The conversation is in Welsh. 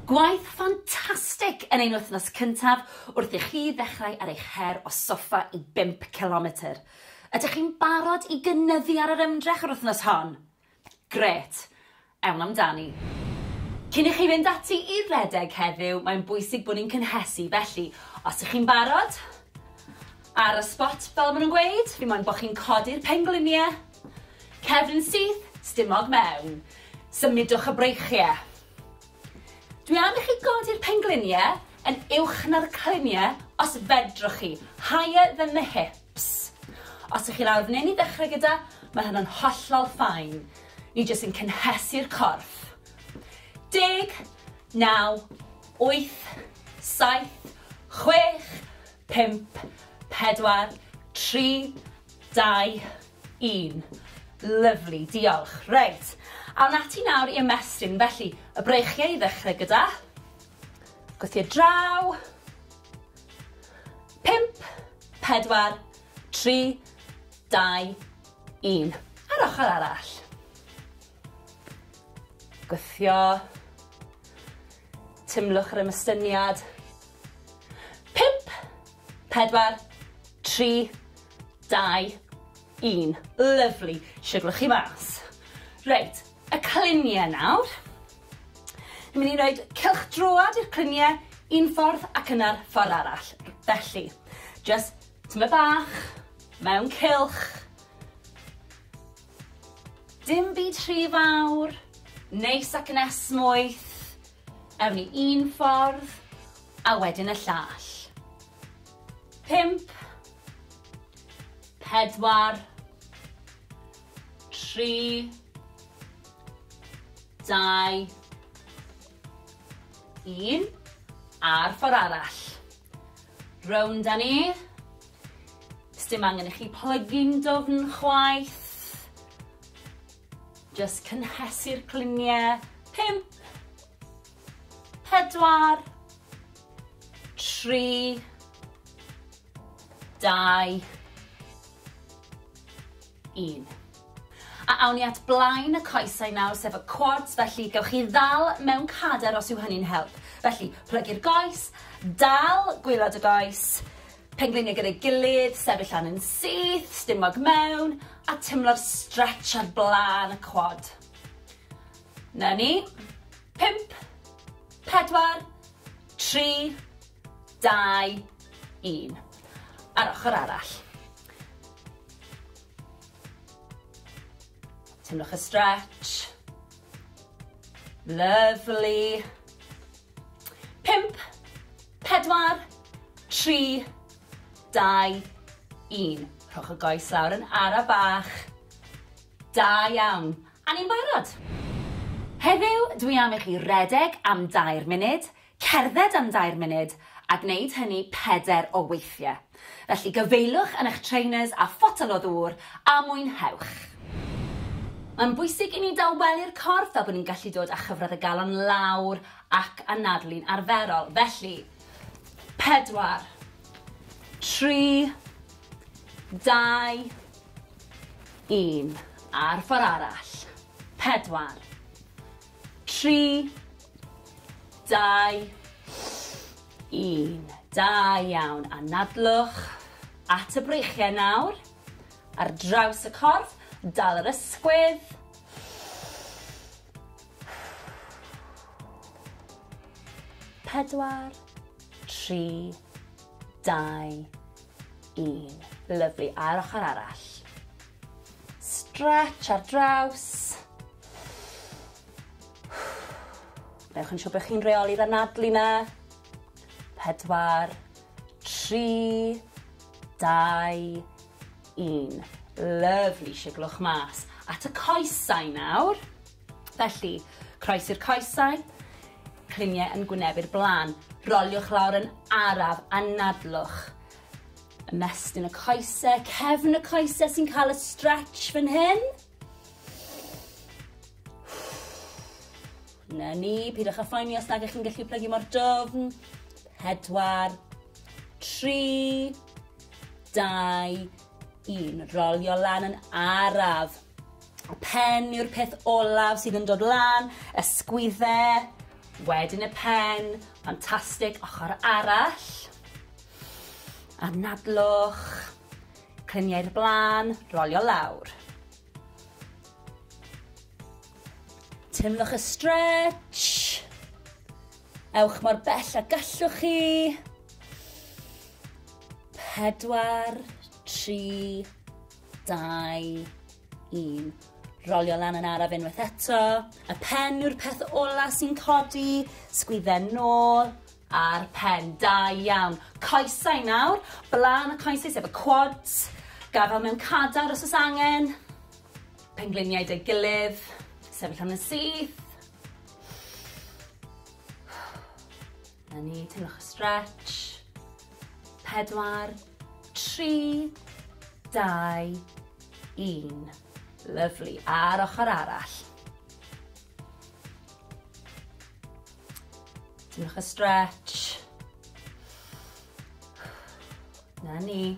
Gwaith ffantastig yn ein wythnos cyntaf wrth i chi ddechrau ar eich her o soffa i bump cilometr. Ydych chi'n barod i gynyddu ar yr ymdrech yr wythnos hon? Grêt! Ewn amdani. Cyn i chi fynd ati i redeg heddiw, mae'n bwysig bod ni'n cynhesu, felly os ych chi'n barod, ar y sbot fel maen nhw'n gweud, fi moyn bod chi'n codi'r pengliniau, Cefn syth, stumog mewn. Symudwch y breichie. Dwi am i chi godi'r penglunie yn uwch na'r clunie os fedrwch chi, higher than the hips. Os ych chi lawr f'nyn i ddechrau gyda, mae hynna'n hollol ffain. Ni jyst yn cynhesu'r corff. Deg, naw, wyth, saith, chwech, pump, pedwar, tri, Dau, un. Lyfli, diolch. Reit, awn ati nawr i ymestyn. Felly, y breichiau i ddechrau gyda. Gwth i'r draw. Pimp, pedwar, tri, dau, un. A'r ochr arall. Gwthio. Tymlwch yr ymystyniad. 4, 3, 2, 1. Lyfli, siwglo chi mas. Reit, y cluniau nawr. Ni'n mynd i roed cylch droad i'r cluniau un ffordd ac yna'r ffordd arall. Felly, just tyma bach, mewn cylch. Dim byd rhy fawr, neis ac yn esmwyth, ewn ni un ffordd a wedyn y llall. Pump, pedwar, tri, dau, un, a'r ffordd arall. Rownd â ni. Sdim angen i chi plygu'n dofn chwaith. Just cynhesu'r cliniau. Pimp. Pedwar. Tri. Dau. un. A awn ni at blaen y coesau nawr, sef y quads, felly gewch chi ddal mewn cader os yw hynny'n help. Felly, plygu'r goes, dal gwylod y goes, pengliniau gyda'i gilydd, sefyll lan yn syth, stumog mewn, a timlo'r stretch ar blaen y quad. Na ni. Pimp, pedwar, tri, dau, un. A'r ochr arall. Teimlwch y stretch. Lovely. Pimp, pedwar, tri, dau, un. Rhowch y goes lawr yn ara bach. Da iawn. A ni'n barod. Heddiw, dwi am i chi redeg am dair munud, Cerdded am dair munud, a gwneud hynny pedair o weithiau. Felly gyfeiliwch yn eich trainers a photel o ddŵr, a mwynhewch! Mae'n bwysig i ni dawelu'r corff fel bod ni'n gallu dod â chyfradd y galon lawr ac anadlu'n arferol. Felly, pedwar, tri, dau, un, a'r ffordd arall. Pedwar. 3, 2, 1. Da iawn. Anadlwch at y breichiau nawr. Ar draws y corff, dal yr ysgwydd. Pedwar, tri, dau, Un. Lyfli, a'r ochr arall. Stretch ar draws. Newch yn siŵr bod chi'n reoli'r anadlu na. Pedwar, tri, dau, un. Lyfli, siglwch mas. At y coesau nawr. Felly, croesi'r coesau, cliniau yn gwynebu'r blaen. Roliwch lawr yn araf a nadlwch. Ymestyn y coesau, cefn y coesau sy'n cael y stretch fan hyn. Na ni, pidwch â phoeni os nag ych chi'n gallu plygu mor dofn. Pedwar, tri, dau, Un, rolio lan yn araf. Y pen yw'r peth olaf sydd yn dod lan, y sgwydde, wedyn y pen, ffantastig, ochr arall. Anadlwch, clymiau'r blaen, rolio lawr. Teimlwch y stretch. Ewch mor bell a gallwch chi. Pedwar, tri, dau, un. Rolio lan yn araf unwaith eto. Y pen yw'r peth ola sy'n codi. Sgwydden nôl a'r pen. Da iawn. Coesau nawr. Blaen y coesau sef y quads. Gafel mewn cadar os oes angen. Pengliniau dy gilydd. Sefyll am yn syth. Na ni, teimlwch y stretch. Pedwar, tri, dau, un. Lyflu. A'r ochr arall. Teimlwch y stretch. Na ni.